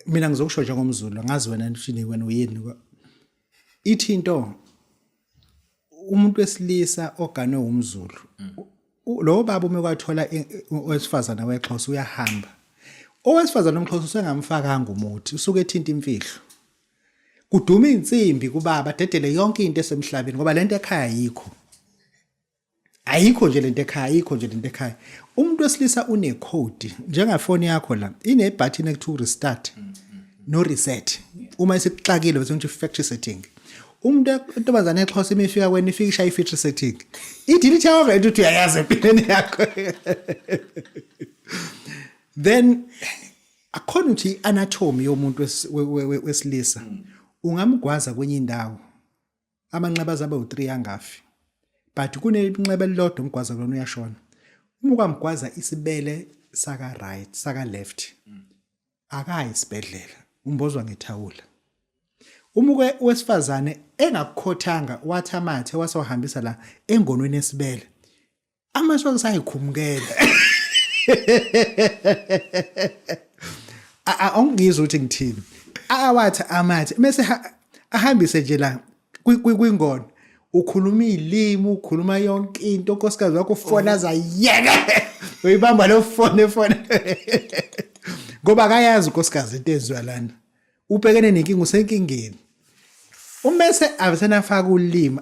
mina ngizokusho njengomzulu ngazi wena nishini wena uyini ithi into umuntu wesilisa oganwe umzulu lo baba uma kwathola owesifazana wexhosa uyahamba owesifazana omxhosa usengamfakanga umuthi usuke ethinta imfihlo kuduma insimbi kubaba dedele yonke into esemhlabeni ngoba lento ekhaya yikho ayikho nje lento ekhaya ayikho nje lento ekhaya umuntu wesilisa une code njengafoni yakho la ine button ekuthiwa restart mm -hmm. no reset uma isikuxakile bese ngithi factory setting umuntu intombazane exhosa uma ifika kwena ifika ishaya i-feature setting i-delete yakho vele ukuthi uyayazi empilweni yakho then akhona ukuthi i-anatomy yomuntu wesilisa ungamgwaza kwenye indawo amanxeba aze abe u-3 angafi but kunenxeba elilodwa umgwaza kulona uyashona uma ukamgwaza isibele saka right saka left akayi isibhedlela umbozwa ngethawula uma uke wesifazane engakukhothanga wathamathe wasohambisa la engonweni esibele Amasu angisayikhumukela. Awungizwa ukuthi ngithini. Awathi amathi mase ahambise nje la kwingono. Ukhuluma izilimi, ukhuluma yonke into, unkosikazi wakho ufona zayeke. Uyibamba lo fone fone. Ngoba akayazi unkosikazi into eziwa lana. ubhekene nenkinga usenkingeni umese abesenafaka ulimi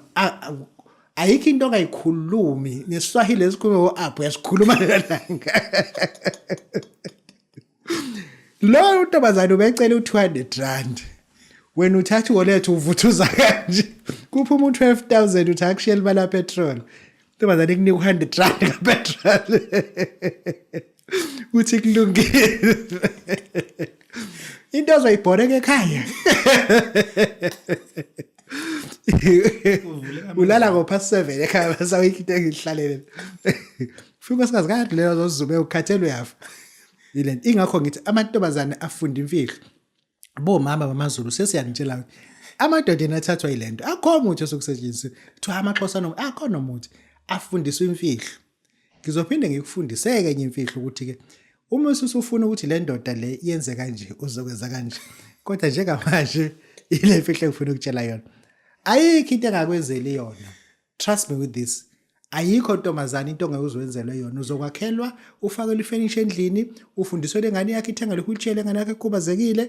ayikho into ongayikhulumi nesiswahili esikhulume o-aphu uyasikhuluma lelanga lowo ntombazane ubecela u-two hundred rand wena uthatha iwolethu uvuthuza kanje kuphuma u-twelve thousand uthi akushiyela imali yapetrol ntombazane kunika u-hundred rand kapetrol uthi kulungile into azoyibhoreka ekhaya ulala ngopha seven ekhaya basawikho into engihlalele fika unkosikazi kade leyo zozume ukhathele uyafa yile ingakho ngithi amantombazane afunda imfihlo bo mama bamazulu sesiyanitshela ukuthi amadoda ena athathwa yile nto akho muthi esokusetshenziswa kuthiwa amaxhosa no akho nomuthi afundiswa imfihlo ngizophinde ngikufundiseke enye imfihlo ukuthi-ke uma ususufuna ukuthi le ndoda le yenze kanje uzokwenza kanje kodwa njengamanje ile mfihlo engifuna ukutshela yona ayikho into engakwenzeli yona trust me with this ayikho ntombazane into ongeke uzwenzelwe yona uzokwakhelwa ufakelwe ifenisha endlini ufundiswe lengane yakhe ithengelwe wheelchair lengane yakhe ekhubazekile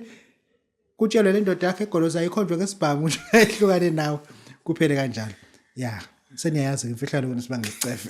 kutshelwe le ndoda yakhe egoloza ayikhonjwe ngesibhamu nje ehlukane nawe kuphele kanjalo ya seniyayazi-ke imfihlalo kona sibangesicefe